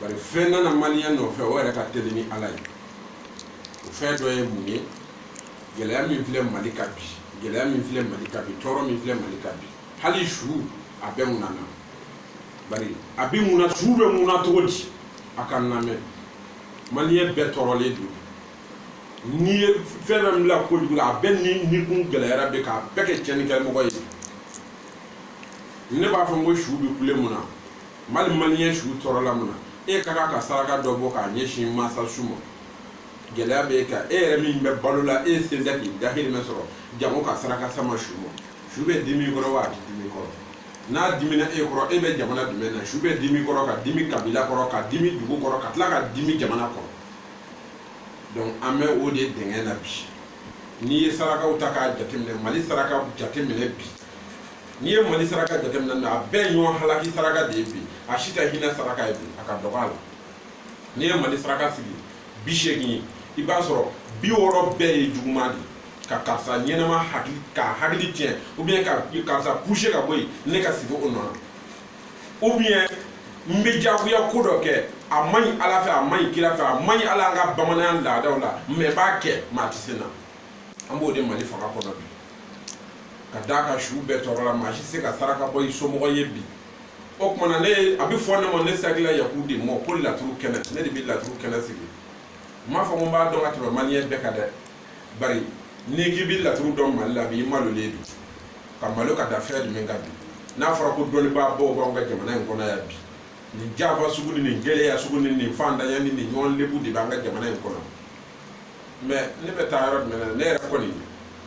bari fɛn nana maliyɛn nɔfɛ o yɛrɛ ka teli ni ala ye o fɛn dɔ ye mun ye gɛlɛya min filɛ mali ka bi gɛlɛya min filɛ mali ka bi tɔɔrɔ min filɛ mali ka bi hali su a bɛɛ mun nana bari a bɛ mun na su bɛ mun na cogo di a ka n lamɛn maliyɛn bɛɛ tɔɔrɔlen don n'i ye fɛn fɛn bila kojugu la a bɛɛ ni kun gɛlɛyara bɛ k'a bɛɛ kɛ cɛnnikɛmɔgɔ ye ne b'a fɔ n ko su bɛ kule mun na mali maliyɛn su tɔɔrɔla mun na e ka kan ka saraka dɔ bɔ k'a ɲɛsin mansa su ma gɛlɛya bɛ e kan e yɛrɛ min bɛ balo la e sen tɛ k'i dahirimɛ sɔrɔ jango ka saraka sama su ma su bɛ dimi i kɔrɔ wa a tɛ dimi i kɔrɔ n'a dimina e kɔrɔ e bɛ jamana jumɛn na su bɛ dimi i kɔrɔ ka dimi kabila kɔrɔ ka dimi dugu kɔrɔ ka tila ka dimi jamana kɔrɔ donc an bɛ o de dɛngɛn na bi n'i ye sarakaw ta k'a jateminɛ mali sarakaw jateminɛ bi n'i ye mali saraka jateminɛ na a bɛɛ ɲɔgɔn halaki saraka de ye bi a si tɛ hinɛ saraka ye bi a ka dɔgɔ a la n'i ye mali saraka sigi bi seegin i b'a sɔrɔ bi wɔɔrɔ bɛɛ ye juguman de ye ka karisa ɲɛnama hakili ka hakili tiɲɛ ou bien ka karisa pousser ka bɔ yen ne ka sigi o nɔ na ou bien n bɛ jagoya ko dɔ kɛ a man ɲi ala fɛ a man ɲi kira fɛ a man ɲi hali an ka bamananya laadaw la mais n b'a kɛ maa tɛ se n na an b'o de mali fanga kɔnɔ bi ka d'a kan su bɛɛ tɔɔrɔla maa si se ka saraka bɔ i somɔgɔ ye bi o tuma na ne a bɛ fɔ ne ma ne sakila yaku de ma ko laturu kɛnɛ ne de bɛ laturu kɛnɛ sigi n m'a fɔ ko n b'a dɔn ka tɛmɛ maliyɛn bɛɛ kan dɛ bari n'i k'i bɛ laturu dɔn mali la bi i malolen bi ka malo ka da fɛn jumɛn kan bi n'a fɔra ko dɔnnibaa baw b'anw ka jamana in kɔnɔ yan bi nin jafa sugu ni nin gɛlɛya sugu ni nin fantanya ni nin ɲɔgɔn lebu de b'an ka jamana in kɔnɔ mais ne bɛ taa yɔrɔ jumɛn na ne yɛrɛ kɔni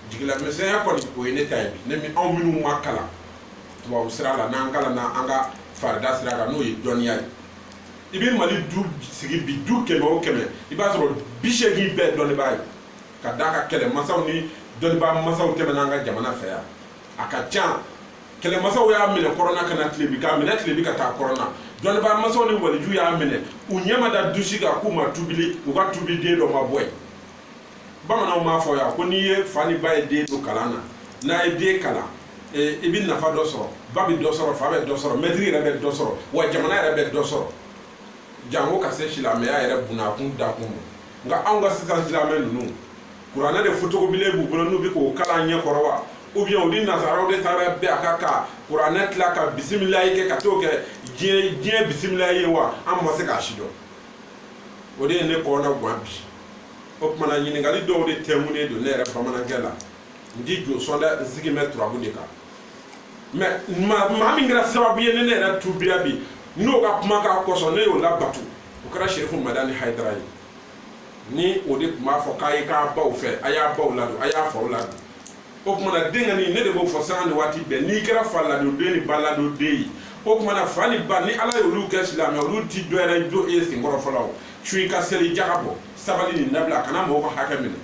jigilamisɛnya kɔni o ye ne ta ye bi ne min anw minnu ma kalan tubabu sira la n'an kalanna an ka farida sira kan n'o ye dɔnniya ye i bɛ mali du sigi bi du kɛmɛ o kɛmɛ i b'a sɔrɔ bi seegin bɛɛ dɔnnibaa ye ka d'a kan kɛlɛmasaw ni dɔnnibaa masaw tɛmɛna an ka jamana fɛ yan a ka ca kɛlɛmasaw y'a minɛ kɔrɔn na ka na tilebin k'a minɛ tilebin ka taa kɔrɔn na dɔnnibaa masaw ni waliju y'a minɛ u ɲɛ ma da du si kan k'u ma tubili u ka tubi den dɔ ma bɔ yen bamananw b'a fɔ yan ko n'i ye fa ni ba ye den don kalan na n'a ye den kalan eh, i bɛ nafa dɔ sɔrɔ ba bɛ dɔ sɔrɔ fa bɛ dɔ sɔrɔ mɛtiri yɛrɛ bɛ dɔ sɔrɔ wa jamana yɛrɛ bɛ dɔ sɔrɔ jango ka se silamɛya yɛrɛ bunakun dakun ma nka anw ka sisan silamɛ ninnu kuranɛ de fotokobilen b'u bolo n'u bɛ k'o kalan ɲɛ kɔrɔ wa ou bien u ni nazaraw de taara bɛn a kan ka kuranɛ tila ka bisimilayi kɛ ka t'o kɛ diɲɛ bisimilayi ye wa an ma se k'a si dɔn o de ye ne kɔnɔ gan bi o tuma na ɲininkali dɔw de tɛmunen don ne yɛrɛ bamanankɛ la n ti jo sɔn dɛ n sigi bɛ turabu de kan mɛ maa min kɛra sababu ye ne ne yɛrɛ tubira bi n'o ka kumakan kosɔn ne y'o labato o kɛra serifu madani hayidara ye ni o de tun b'a fɔ k'a ye k'a baw fɛ a y'a baw ladon a y'a faw ladon o tuma na denkɛnin ne de b'o fɔ sanga ni waati bɛɛ n'i kɛra fa ladon den ni ba ladon den ye o tuma na fa ni ba ni ala y'olu kɛ silamɛ olu ti dɔ wɛrɛ jɔ e sen kɔrɔ fɔlɔ o sun i ka seli jaka bɔ sabali nin dabila kana mɔgɔw ka hakɛ minɛ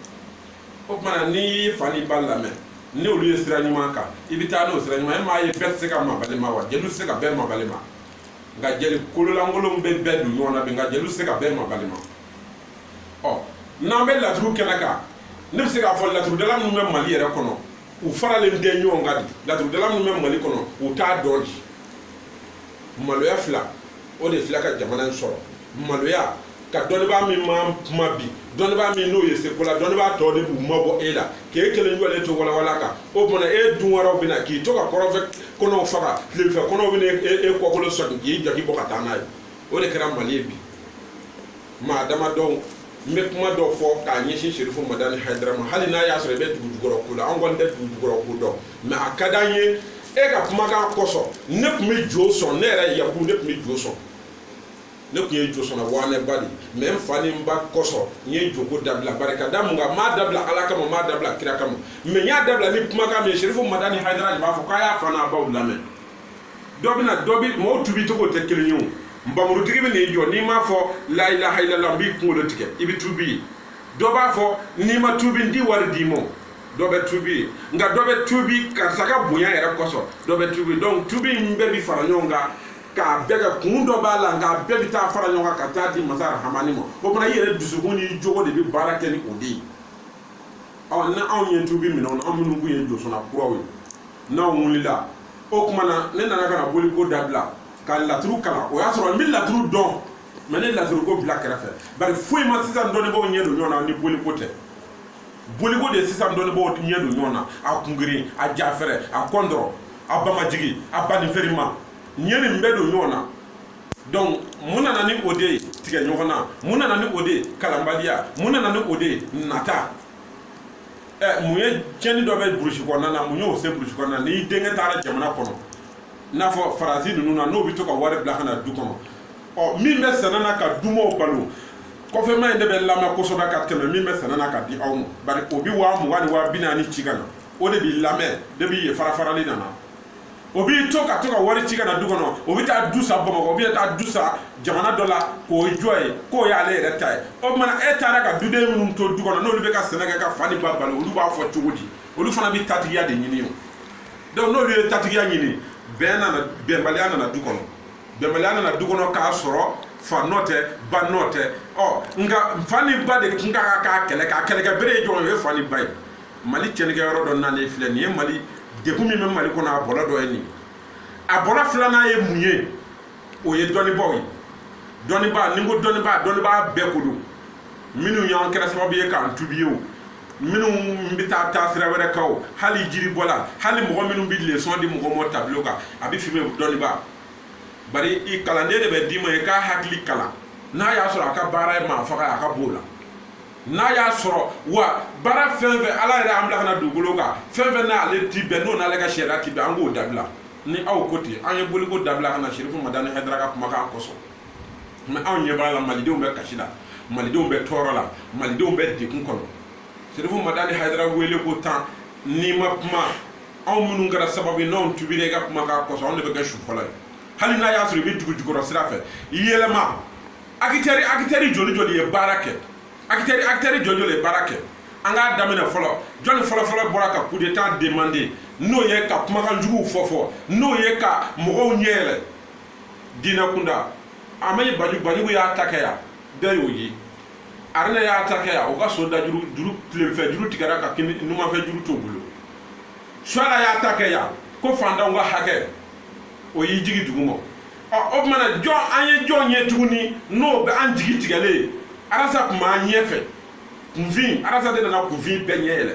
o tuma na n'i y'i fa ni ba lamɛn ni olu ye sira ɲuman kan i bɛ taa n'o sira ɲuman e m'a ye bɛɛ tɛ se ka mabalima wa jeliw tɛ se ka bɛɛ mabalima nka jeli kololankolonw bɛ bɛɛ don ɲɔgɔn na bi nka jeliw tɛ se ka bɛɛ mabalima ɔ n'an bɛ laturu kɛnɛ kan ne bɛ se k'a fɔ laturudala minnu bɛ mali yɛrɛ kɔnɔ u faralen tɛ ɲɔgɔn kan di laturudala minnu bɛ mali kɔnɔ u t'a dɔn di maloya fila o de filɛ ka jamana in sɔrɔ maloya ka dɔnnibaa min ma kuma bi dɔnnibaa min n'o ye seko la dɔnnibaa tɔw de b'u mabɔ e la k'e kelen jɔlen to walawala kan o tuma e dun wɛrɛw bɛna k'i to ka kɔrɔfɛ kɔnɔw faga tilefɛ kɔnɔw bɛna e kɔkolo sɔgin k'i jaki bɔ ka taa n'a ye o de kɛra mali ye bi maa damadɔw n bɛ kuma dɔ fɔ k'a ɲɛsin serifu madani hayidara ma hali n'a y'a sɔrɔ i bɛ dugu jukɔrɔ ko la an kɔni tɛ dugu jukɔrɔ ko dɔn mɛ a ka d'an ye e ka kumakan kosɔn ne tun bɛ jo sɔn ne yɛrɛ yaku ne tun bɛ jo sɔn ne tun ye josɔnna waaneba de mɛ n fa ni n ba kosɔn n ye joko dabila bari ka da mun kan n m'a dabila ala kama n m'a dabila kira kama mɛ n y'a dabila ni kumakan min ye serifu madani hayidara de b'a fɔ k'a y'a fa n'a baw lamɛn dɔ bɛna dɔ bi mɔgɔw tubi cogo tɛ kelen ye o npanmurutigi bɛ n'i jɔ n'i m'a fɔ la ilaha illallah n b'i kunkolo tigɛ i bɛ tubi dɔ b'a fɔ n'i ma tubi n ti wari d'i ma dɔ bɛ tubi nka dɔ bɛ tubi karisa ka bonya yɛrɛ kosɔn dɔ bɛ tubi donc tubi in bɛɛ bi fara ɲɔgɔn kan k'a bɛɛ kɛ kun dɔ b'a la nka bɛɛ bɛ taa fara ɲɔgɔn kan ka taa di masa rahamani ma o fana i yɛrɛ dusukun ni jogo de bɛ baara kɛ ni o de ye ɔ ni anw ye tubi minɛ anw minnu kun ye josɔnna kuraw ye n'anw wulila o tuma na ne nana ka na boliko dabila ka laturu kalan o y'a sɔrɔ n bɛ laturu dɔn mɛ n ye laturu ko bila kɛrɛfɛ bari foyi ma sisan dɔnnibaaw ɲɛ don ɲɔgɔn na ni boliko tɛ boliko de sisan dɔnnibaaw ɲɛ don ɲɔgɔn na a kungirin a jafɛrɛ a kɔndɔrɔ a bamajigi a baninferima n ye nin bɛɛ don ɲɔgɔn na donc mun nana ni o de ye tigɛ ɲɔgɔn na mun nana ni o de ye kalanbaliya mun nana ni o de ye nata ɛ mun ye tiɲɛni dɔ bɛ burusi kɔnɔna na mun y'o se burusi kɔnɔna na n'i denkɛ taara jamana kɔnɔ i n'a fɔ faransi ninnu na n'o bɛ to ka wari bila ka na du kɔnɔ ɔ min bɛ sɛnɛ na ka dumaw balo kɔfɛma in de bɛ lamɛn kosɛbɛ ka tɛmɛ min bɛ sɛnɛ na ka di aw ma bari o bɛ waa mugan ni waa bi naani ci ka na o de b'i lamɛn de b'i ye farafarali nana o b'i to ka to ka wari ci ka na du kɔnɔ o bɛ taa du san bamakɔ o bɛ taa du san jamana dɔ la k'o jɔ yen k'o y'ale yɛrɛ ta ye o tuma e taara ka duden minnu to du kɔnɔ n'olu bɛ ka sɛnɛ kɛ ka fa ni ba balo olu b'a fɔ cogo di olu fana bɛ tatigiya de ɲini o donc n'olu ye tatigiya ɲini bɛn nana bɛnbaliya nana du kɔnɔ bɛnbaliya nana du kɔnɔ k'a sɔrɔ fa nɔ tɛ ba nɔ tɛ ɔ nka fa ni ba de tun ka kan k'a kɛlɛ k'a kɛlɛkɛ bere ye jɔn ye o ye fa ni ba ye mali tiɲɛnikɛ yɔrɔ dɔ nalen filɛ nin ye mali degun min bɛ mali kɔnɔ a bɔlɔ dɔ ye nin a bɔlɔ filanan ye mun ye o ye dɔnnibaaw ye dɔnnibaa ni n ko dɔnnibaa dɔnnibaa bɛɛ ko don minnu y'an kɛra sababu ye k'an tubi ye o minnu bɛ taa taa sira wɛrɛ kan o hali jiribɔla hali mɔgɔ minnu bɛ lesɔn di mɔgɔ ma tabilo kan a bɛ f'i ma dɔnnibaa bari i kalanden de bɛ d'i ma i k'a hakili kalan n'a y'a sɔrɔ a ka baara ye maa faga ye a ka b'o la n'a y'a sɔrɔ wa baara fɛn o fɛn ala yɛrɛ y'an bila ka na dugukolo kan fɛn o fɛn n'ale ti bɛn n'o n'ale ka sariya ti bɛn an k'o dabila ni aw ko ten an ye boliko dabila ka na sirifu madani hayidara ka kumakan kosɔn mɛ anw ɲɛ b'a la malidenw bɛ kasi la malidenw bɛ tɔɔrɔ la malidenw bɛ degun kɔnɔ sirifu madani hayidara wele ko tan n'i ma kuma anw minnu kɛra sababu ye n'anw tubira i ka kumakan kosɔn anw de bɛ kɛ su fɔlɔ ye hali n'a y'a sɔrɔ i bɛ dugu jukɔrɔ sira fɛ yɛlɛma akitɛri akitɛri joli joli ye baara kɛ akitɛri akitɛri joli joli ye baara kɛ an k'a daminɛ fɔlɔ jɔnni fɔlɔfɔlɔ bɔra ka kudeta demande n'o ye ka kumakan juguw fɔ fɔ n'o ye ka mɔgɔw ɲɛ yɛlɛ diinɛ kunda a ma ye banjugu banjugu y'a ta kɛ yan bɛɛ y'o ye aruna y'a ta kɛ yan o ka so da juru juru kininfɛ juru tigɛra ka kini numanfɛ juru t'o bolo suala y'a ta kɛ yan ko fantanw ka hakɛ o y'i jigi dugu ma o tuma na jɔn an ye jɔn ye tuguni n'o bɛ an jigi tigɛlen ye arasa tun b'an ɲɛfɛ kunfin arasa de nana kunfin bɛɛ ɲɛ yɛlɛ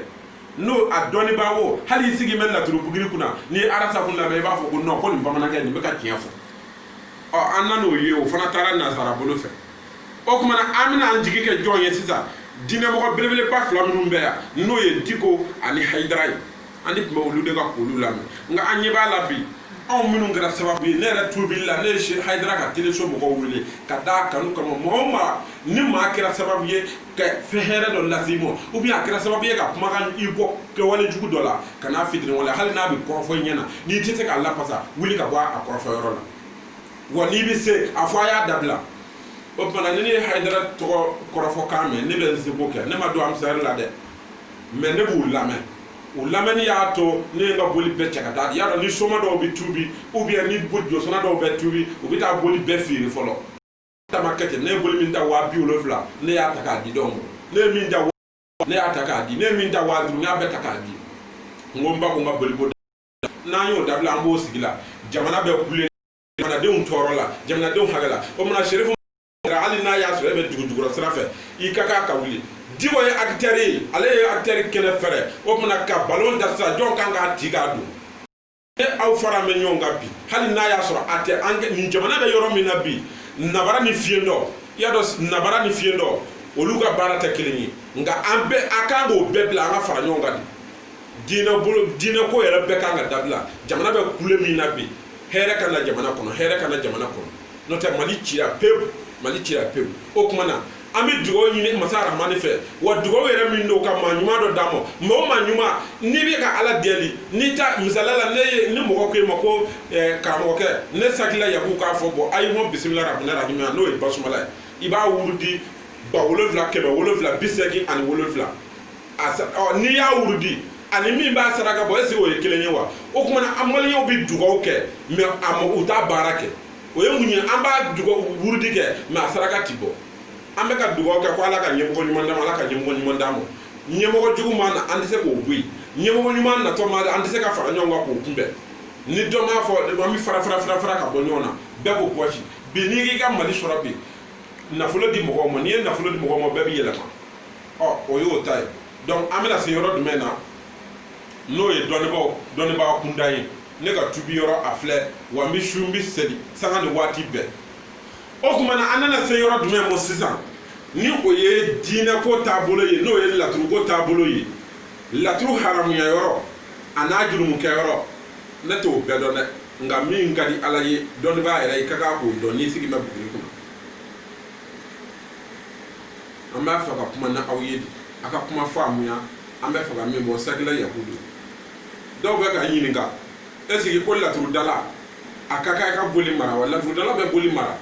n'o a dɔnnibaa wo hali i sigi bɛ laturu bugiri kunna n'i ye arasa kuma lamɛn i b'a fɔ ko nɔn ko nin bamanankɛ nin bɛ ka tiɲɛ fɔ ɔ an nan'o ye o fana taara nazara bolo fɛ o tuma na an bɛna an jigi kɛ jɔn ye sisan diinɛmɔgɔ belebeleba fila minnu bɛ yan n'o ye diko ani hayidara ye an de tun bɛ olu de ka kulu lamɛn nka an ɲɛ b'a la bi anw minnu kɛra sababu ye ne yɛrɛ tubili la ne ye hayidara ka teleso mɔgɔw wele ka d'a kanu kama mɔgɔ o maa ni maa kɛra sababu ye ka fɛn hɛrɛ dɔ lase i ma ou bien a kɛra sababu ye ka kumakan i bɔ kɛwale jugu dɔ la kan'a fitiriwale hali n'a bɛ kɔrɔfɔ i ɲɛ na n'i tɛ se k'a lapasa wuli ka bɔ a kɔrɔfɔ yɔrɔ la wa n'i bɛ se a fɔ a y'a dabila o tumana ni ne ye hayidara tɔgɔ kɔrɔfɔ kan mɛn ne bɛ n seko kɛ ne ma don ansari la dɛ mais ne b'u lamɛn u lamɛnni y'a to ne ye n ka boli bɛɛ cɛ ka taa y'a dɔn ni soma dɔw bɛ tubi ou bien ni jɔsɔnna dɔw bɛ tubi u bɛ taa boli bɛɛ feere fɔlɔ ta ma kɛ ten ne ye boli min ta waa bi wolonfila ne y'a ta k'a di dɔw ma ne ye min ta ne y'a ta k'a di ne ye min ta waa duuru n y'a bɛɛ ta k'a di n ko n ba ko n ka boli ko n'an y'o dabila an b'o sigi la jamana bɛ kule jamanadenw tɔɔrɔ la jamanadenw hakɛ la o tumana serifu hali n'a y'a sɔrɔ e bɛ dugujukɔrɔ sira fɛ i ka kan ka wuli diko ye akitɛri ye ale ye akitɛri kɛnɛ fɛrɛ o tumana ka balon da sisan jɔn kan k'a ti k'a don ne aw fara bɛ ɲɔgɔn kan bi hali n'a y'a sɔrɔ a tɛ an nin jamana bɛ yɔrɔ min na bi nabara ni fiyentɔ i y'a dɔn nabara ni fiyentɔ olu ka baara tɛ kelen ye nka an bɛɛ a kan k'o bɛɛ bila an ka fara ɲɔgɔn kan de diinɛ bolo diinɛ ko yɛrɛ bɛɛ kan ka dabila jamana bɛ kule min na bi hɛrɛ ka na jamana kɔnɔ hɛrɛ ka na jamana kɔnɔ n'o tɛ mali cira pewu mali cira pewu o tuma na an bɛ dugawu ɲini masa rahamani fɛ wa dugawu yɛrɛ min don ka maa ɲuman dɔ d'an ma maa o maa ɲuman n'i bɛ ka ala deli n'i ta misaliya la ne ye ni mɔgɔ ko e ma ko eh, karamɔgɔkɛ ne sakila yaku k'a fɔ bɔ ayi mɔ bisimila rahamani rahimi n'o ye basumala ye i b'a wurudi ba wolonfila kɛmɛ wolonfila bi seegin ani wolonfila n'i y'a wurudi ani min b'a saraka bɔ est ce que o ye kelen ye wa o tuma na an maliyɛnw bɛ dugawu kɛ mais u t'a baara kɛ o ye mun ye an b'a wurudi kɛ mais a saraka ti bɔ an bɛ ka dugawu kɛ ko ala ka ɲɛmɔgɔ ɲuman d'an ma ala ka ɲɛmɔgɔ ɲuman d'an ma ɲɛmɔgɔ jugu ma na an tɛ se k'o bɔ yen ɲɛmɔgɔ ɲuman natɔ ma an tɛ se ka fara ɲɔgɔn kan k'o kunbɛn ni dɔ m'a fɔ an bɛ fara fara fara fara ka bɔ ɲɔgɔn na bɛɛ ko pɔsi bi n'i k'i ka mali sɔrɔ bi nafolo di mɔgɔw ma n'i ye nafolo di mɔgɔw ma bɛɛ bɛ yɛlɛma ɔ o y'o ta ye dɔnku an bɛna se yɔrɔ jumɛn na n'o ye dɔnnibaaw dɔnnibaa kunda ye ne ka tubi yɔrɔ a filɛ wa n bɛ sun n bɛ seli sanga ni waati bɛɛ o tuma na an nana se yɔrɔ jumɛn ma sisan ni o ye diinɛ ko taabolo ye n'o ye laturu ko taabolo ye laturu haramuya yɔrɔ a n'a jurumukɛ yɔrɔ ne t'o bɛɛ dɔn dɛ nka min ka di ala ye dɔnnibaa yɛrɛ i ka kan k'o dɔn n'i sigi bɛ buguri kɔnɔ an b'a fɛ ka kuma na aw ye a ka kuma faamuya an b'a fɛ ka min bɔ sakila yakubu dɔw bɛ ka ɲininka ɛsike ko laturudala a ka kan i ka boli mara wa laturudala bɛ boli mara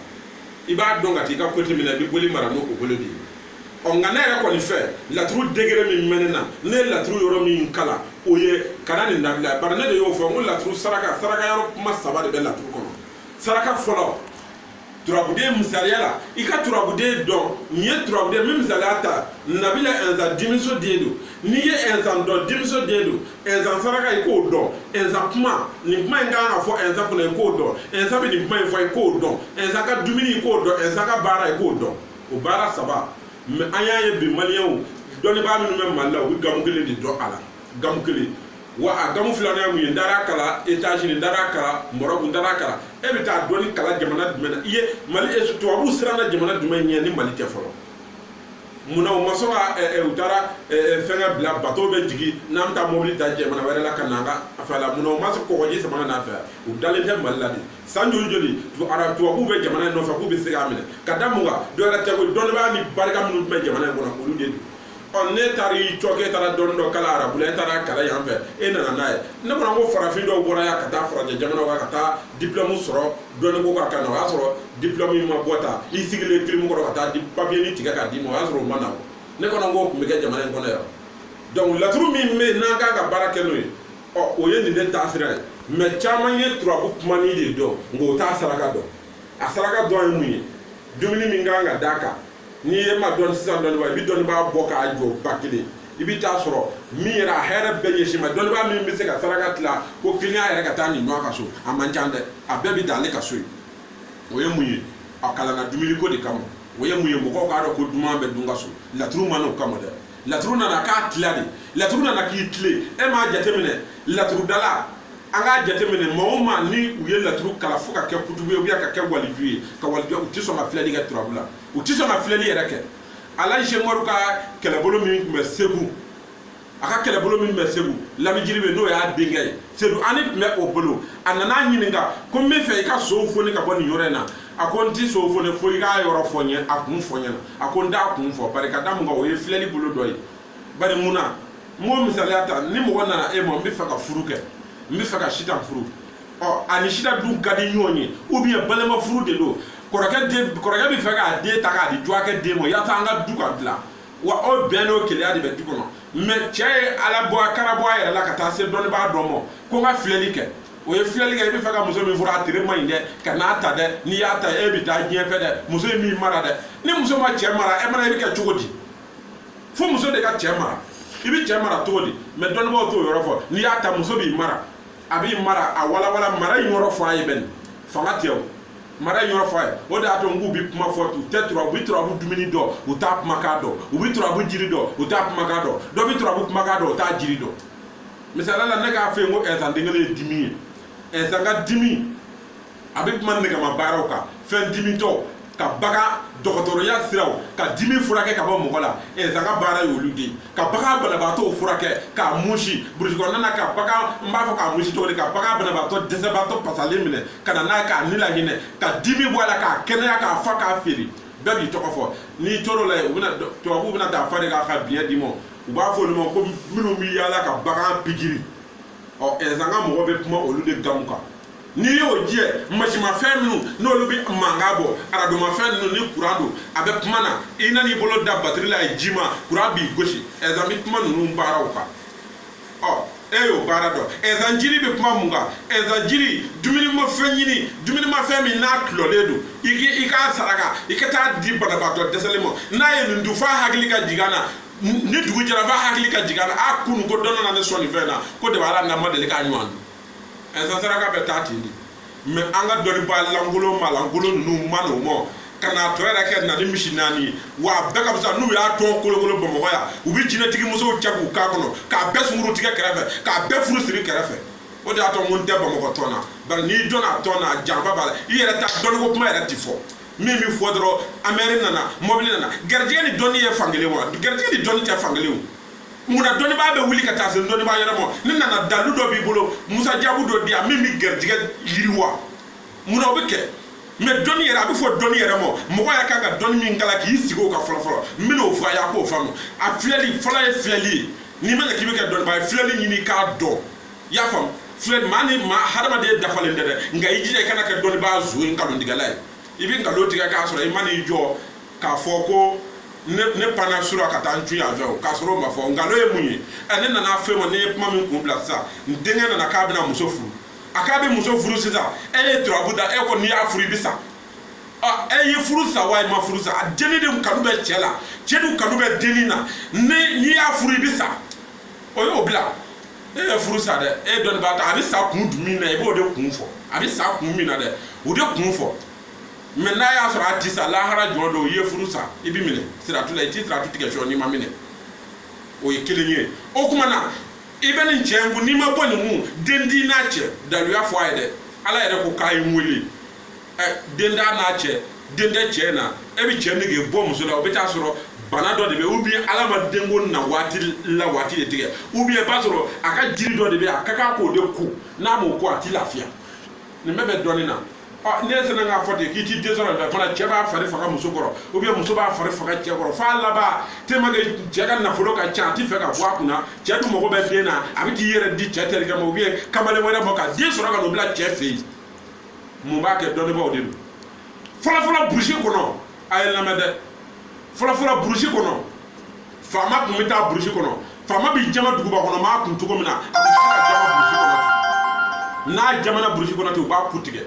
i b'a dɔn ka taa i ka kote min na i bɛ boli mara n'o o bolo de ye ɔ nka ne yɛrɛ kɔni fɛ laturu degere min bɛ ne na ne ye laturu yɔrɔ min kalan o ye ka na nin dabila bari ne de y'o fɔ n ko laturu saraka saraka yɔrɔ kuma saba de bɛ laturu kɔnɔ saraka fɔlɔ turabuden misaliya la i ka turabuden dɔn n'i ye turabuden min misaliya ta nabila ɛnzan denmuso den don n'i ye ɛnzan dɔn denmuso den don ɛnzan saraka i k'o dɔn ɛnzan kuma nin kuma in kan ka fɔ ɛnzan kunna i k'o dɔn ɛnzan bɛ nin kuma in fɔ i k'o dɔn ɛnzan ka dumuni i k'o dɔn ɛnzan ka baara i k'o dɔn o baara saba mɛ an y'a ye bi maliyɛnw dɔnnibaa minnu bɛ mali la u bɛ gamu kelen de dɔn a la gamu kelen wa a gamu filanan mun ye n taara kalan etazini n taara kalan marɔku n taara kalan e bɛ taa dɔnni kalan jamana jumɛn na i ye mali tubabuw siranna jamana jumɛn ɲɛ ni mali tɛ fɔlɔ mun na u ma sɔn ka u taara fɛngɛ bila bato bɛ jigin n'an bɛ taa mobili ta jamana wɛrɛ la ka na an ka fɛ la mun na u ma sɔn kɔgɔji sama ka n'an fɛ u dalen tɛ mali la de san joli joli ara tubabuw bɛ jamana in nɔfɛ k'u bɛ se k'a minɛ ka da mun kan dɔ wɛrɛ tɛ ko dɔnnibaa ni barika minnu tun bɛ jamana in kɔnɔ olu de don ɔ ne taara i cɔkɛ e taara dɔnni dɔ kalan arabu la e taara kalan yan fɛ e nana n'a ye ne fana ko farafin dɔw bɔra yan ka taa farajɛ jamanaw kan ka taa diplɔmu sɔrɔ dɔnni ko kan ka na o y'a sɔrɔ diplɔmu in ma bɔ ta i sigilen kilimu kɔrɔ ka taa papiye ni tigɛ k'a d'i ma o y'a sɔrɔ o ma na ne fana ko o tun bɛ kɛ jamana in kɔnɔ yan donc laturu min bɛ yen n'an kan ka baara kɛ n'o ye ɔ o ye nin de taasira ye mɛ caman ye turabu kumani de dɔn nka o t'a saraka dɔn a saraka dɔn ye mun ye dumuni min kan ka d'a kan n'i ye ma dɔn sisan dɔnnibaa i bɛ dɔnnibaa bɔ k'a jɔ ba kelen i bɛ taa sɔrɔ min yɛrɛ a hɛrɛ bɛɛ ɲɛsin ma dɔnnibaa min bɛ se ka saraka tila ko kiliyan yɛrɛ ka taa nin y'a ka so a man ca dɛ a bɛɛ bɛ dan ale ka so ye o ye mun ye a kalanna dumuni ko de kama o ye mun ye mɔgɔw k'a dɔn ko duman bɛ dun ka so laturu ma n'o kama dɛ laturu nana k'a tila de laturu nana k'i tilen e m'a jateminɛ laturudala an k'a jateminɛ maa o maa ni u ye laturu kalan fo ka kɛ kutubu ye ubiyɛn ka kɛ waliju ye ka waliju u tɛ sɔn ka filɛli kɛ turabu la u tɛ sɔn ka filɛli yɛrɛ kɛ alaji umaru ka kɛlɛbolo min tun bɛ segu a ka kɛlɛbolo min bɛ segu lamijiribe n'o y'a denkɛ ye sedu ani tun bɛ o bolo a nana ɲininka ko n bɛ fɛ i ka sow foni ka bɔ nin yɔrɔ in na a ko n tɛ sow foni fo i k'a yɔrɔ fɔ n ye a kun fɔ n ɲɛna a ko n t'a kun fɔ bari ka da mun kan o ye filɛli bolo dɔ ye bari mun na n b'o misaliya ta ni mɔgɔ nana e ma n bɛ fɛ ka furu kɛ n bɛ fɛ ka sitan furu ɔ ani sitan dun ka di ɲɔgɔn ye ubiyɛn balima furu de don kɔrɔkɛ den kɔrɔkɛ bɛ fɛ k'a den ta k'a di dɔgɔkɛ den ma yasa an ka du ka dilan wa ubiyɛn n'o keleya de bɛ du kɔnɔ mɛ cɛ ye ala bɔ a kana bɔ a yɛrɛ la ka taa se dɔnnibaa dɔ ma ko n ka filɛli kɛ o ye filɛli kɛ i bɛ fɛ ka muso min furu a tere man ɲi dɛ kan'a ta dɛ n'i y'a ta e bɛ taa diɲɛ fɛ dɛ muso in b'i mara dɛ ni muso ma cɛ mara e mana i bɛ kɛ cogo di fo muso de ka cɛ mara i bɛ cɛ mara cogo di mɛ dɔnnibaaw t'o yɔrɔ fɔ n'i y'a ta muso b'i mara a b'i mara a walawala mara in yɔrɔ fɔ a ye bɛn fanga tɛ o mara in yɔrɔ fɔ a ye o de y'a to n k'u bɛ kuma fɔ u tɛ turabu u bɛ turabu dumuni dɔn u t'a kumakan dɔn u bɛ turabu jiri dɔn u t'a kumakan dɔn dɔ bɛ turabu kumakan dɔn u t'a jiri dɔn misaliya la ne k'a fɔ yen ko ɛnsan den kelen ye dimi ye ɛnsan ka dimi a bɛ kuma nɛgɛma baaraw kan fɛn dimitɔ ka bagan dɔgɔtɔrɔya siraw ka dimi furakɛ ka bɔ mɔgɔ la ɛnsan ka baara ye olu de ye ka bagan banabaatɔw furakɛ k'a musi burusi kɔnɔna na ka bagan n b'a fɔ k'a musi cogo di ka bagan banabaatɔ dɛsɛbaatɔ pasalen minɛ ka na n'a ye k'a ni lahinɛ ka dimi bɔ a la k'a kɛnɛya k'a fa k'a feere bɛɛ b'i tɔgɔ fɔ n'i tor'o la yen u bɛna tubabuw bɛna dan fa de k'a ka biɲɛ d'i ma u b'a fɔ olu ma ko minnu bɛ yaala ka bagan pikiri ɔ ɛnzan ka mɔgɔ bɛ kuma olu de gamu kan n'i y'o jɛ masinmafɛn minnu n'olu bɛ mankan bɔ aradomafɛn ninnu ni kuran don a bɛ kuma na i nan'i bolo da batiri la a ye ji ma kuran b'i gosi ɛnzan bɛ kuma ninnu baaraw kan ɔ e y'o baara dɔn ɛnzan jiri bɛ kuma mun kan ɛnzan jiri dumunimafɛn ɲini dumunimafɛn min n'a tulɔlen don i k'i i k'a saraka i ka taa di banabaatɔ dɛsɛlen ma n'a ye nin dun f'a hakili ka jigin a la ni dugu jɛra f'a hakili ka jigin a la a kunu ko dɔ nana ne sɔn nin fɛn na ko de b'a la ne ma deli k'a ɲɔgɔn dun ɛnzan saraka bɛ taa ten de mɛ an ka dɔnnibaa lankolon malankolon ninnu ma n'o ma ka n'a tɔ yɛrɛ kɛ na ni misi naani ye wa a bɛɛ ka fisa n'u y'a tɔn kolokolo bamakɔ yan u bɛ jinɛtigi musow cɛ k'u k'a kɔnɔ k'a bɛɛ sunguru tigɛ kɛrɛfɛ k'a bɛɛ furu siri kɛrɛfɛ o de y'a to n ko n tɛ bamakɔ tɔn na bari n'i dɔnna a tɔn na a janfa b'a la i yɛrɛ ta dɔnniko kuma yɛrɛ ti fɔ min bɛ fɔ dɔrɔn amɛri nana mɔbili nana garijɛgɛ ni dɔnni ye fankelen wa garijɛgɛ ni dɔnni tɛ fankelen o munna dɔnnibaa bɛ wuli ka taa se dɔnnibaa yɛrɛ ma ne nana dalu dɔ b'i bolo musajabu dɔ di yan min bɛ garijɛgɛ yiriwa munna o bɛ kɛ mɛ dɔnni yɛrɛ a bɛ fɔ dɔnni yɛrɛ ma mɔgɔ yɛrɛ kan ka dɔnni min kala k'i sigi o kan fɔlɔ fɔlɔ n bɛn'o fɔ a y'a k'o faamu a filɛli fɔlɔ ye filɛli ye n'i ma ɲɛ k'i bɛ kɛ dɔnnibaa ye filɛli ɲini k'a dɔn i y'a faamu filɛ maa ni maa hadamaden dafalen tɛ dɛ nka i jija i kana kɛ dɔnnibaa zo ye nkalontigɛla ye i bɛ nkalon tigɛ k'a sɔrɔ i man'i jɔ k'a fɔ ko ne panna sura ka taa n cun yan fɛ o k'a sɔrɔ o ma fɔ nkalon ye mun ye ɛ ne nana fɛn ma ne ye kuma min kun bila sisan n denkɛ nana k'a bɛna muso furu a k'a bɛ muso furu sisan e ye turabu da e ko n'i y'a furu i bɛ sa e ye furu sa wa i ma furu sa a denni de kanu bɛ cɛ la cɛ dun kanu bɛ denni na n'i y'a furu i bɛ sa o y'o bila e ye furu sa dɛ e dɔnnibaa ta a bɛ sa kun min na i b'o de kun fɔ a bɛ sa kun min na dɛ o de kun fɔ mɛ n'a y'a sɔrɔ a ti sa lahara jɔn don i ye furu sa i bɛ minɛ siratu la i ti siratu tigɛ sɔ n'i ma minɛ o ye kelen ye o tuma na i bɛ nin cɛ in kun n'i ma bɔ nin kun den di n'a cɛ daluya fɔ a ye dɛ ala yɛrɛ ko k'a ye n wele ɛ den da n'a cɛ den tɛ cɛ na e bɛ cɛ nege bɔ muso la o bɛ taa sɔrɔ bana dɔ de bɛ ou bien ala ma denko na waati la waati de tigɛ ou bien i b'a sɔrɔ a ka jiri dɔ de bɛ a ka kan k'o de ko n'a m'o ko a t'i lafiya nin bɛɛ bɛ dɔnni na ni e sinna k'a fɔ ten k'i ti den sɔrɔ fana cɛ b'a fari faga muso kɔrɔ ou bien muso b'a fari faga cɛ kɔrɔ f'a laban tellement que cɛ ka nafolo ka ca a ti fɛ ka bɔ a kunna cɛ dun mago bɛ den na a bɛ t'i yɛrɛ di cɛ terikɛ ma ou bien kamalen wɛrɛ ma ka den sɔrɔ ka n'o bila cɛ fɛ yen mun b'a kɛ dɔnnibaaw de don fɔlɔfɔlɔ burusi kɔnɔ a ye lamɛn dɛ fɔlɔfɔlɔ burusi kɔnɔ faama tun bɛ taa burusi kɔnɔ faama bɛ jaman duguba kɔnɔ maa kun cogo min na a tɛ se ka jaman burusi kɔnɔ ten n'a jamanna burusi kɔnɔ ten u b'a ku tigɛ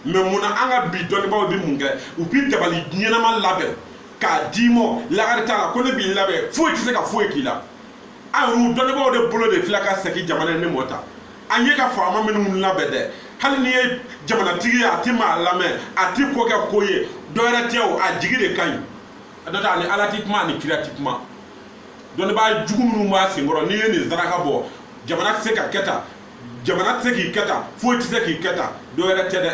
mɛ mun na an ka bi dɔnnibaaw bɛ mun kɛ u bɛ dabali ɲɛnama labɛn k'a d'i ma lakari t'a la ko ne b'i labɛn foyi tɛ se ka foyi k'i la an yɛrɛ dɔnnibaaw de bolo de filɛ ka segin jamana in nɛɛma ta an ye ka faama minnu labɛn dɛ hali n'i ye jamanatigi ye a ti maa lamɛn a ti ko kɛ ko ye dɔwɛrɛ tɛ o a jigi de ka ɲi a dɔ ta ani ala ti kuma ani kira ti kuma dɔnnibaa jugu minnu b'a senkɔrɔ n'i ye nin saraka bɔ jamana tɛ se ka kɛ tan jamana tɛ se k'i kɛ tan foyi tɛ se k'i kɛ tan dɔwɛrɛ tɛ dɛ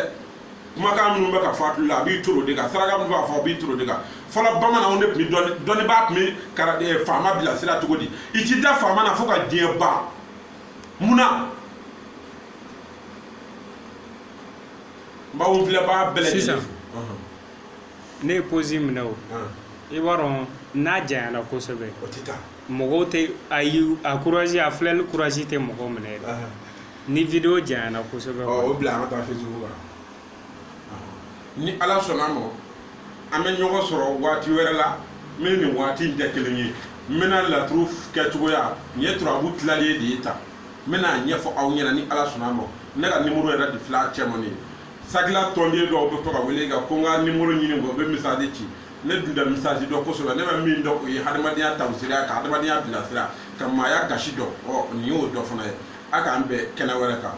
kumakan minnu bɛ ka fɔ a tulo la a b'i turu o de kan saraka minnu b'a fɔ a b'i turu o de kan fɔlɔ bamananw de tun bɛ dɔnni dɔnnibaa tun bɛ kara eh, faama bilasira cogo di i ti da faama na fo ka diɲɛ ban munna n b'aw filɛbaga bɛɛ lajɛlen sisan fo. ne ye posi minɛ o i b'a dɔn n'a janyana kosɛbɛ mɔgɔw tɛ a ye a courage a filɛli courage tɛ mɔgɔ minɛ dɛ ni video janyana kosɛbɛ o bila an ka taa facebook la ni ala sɔnna a ma an bɛ ɲɔgɔn sɔrɔ waati wɛrɛ la min ni waati in tɛ kelen ye n bɛna laturu kɛcogoya nin ye turabu tilalen de ye tan n bɛna ɲɛfɔ aw ɲɛna ni ala sɔnna a ma ne ka nimoro yɛrɛ de filɛ a cɛma nin ye sabula tɔnden dɔw bɛ to ka wele ka ko n ka nimoro ɲini kɔ u bɛ message ci ne dun tɛ message dɔn kosɛbɛ ne bɛ min dɔn o ye hadamadenya taasira ka hadamadenya bilasira ka maaya gasi dɔn ɔ nin y'o dɔ fana ye a k'an bɛn kɛnɛ wɛrɛ kan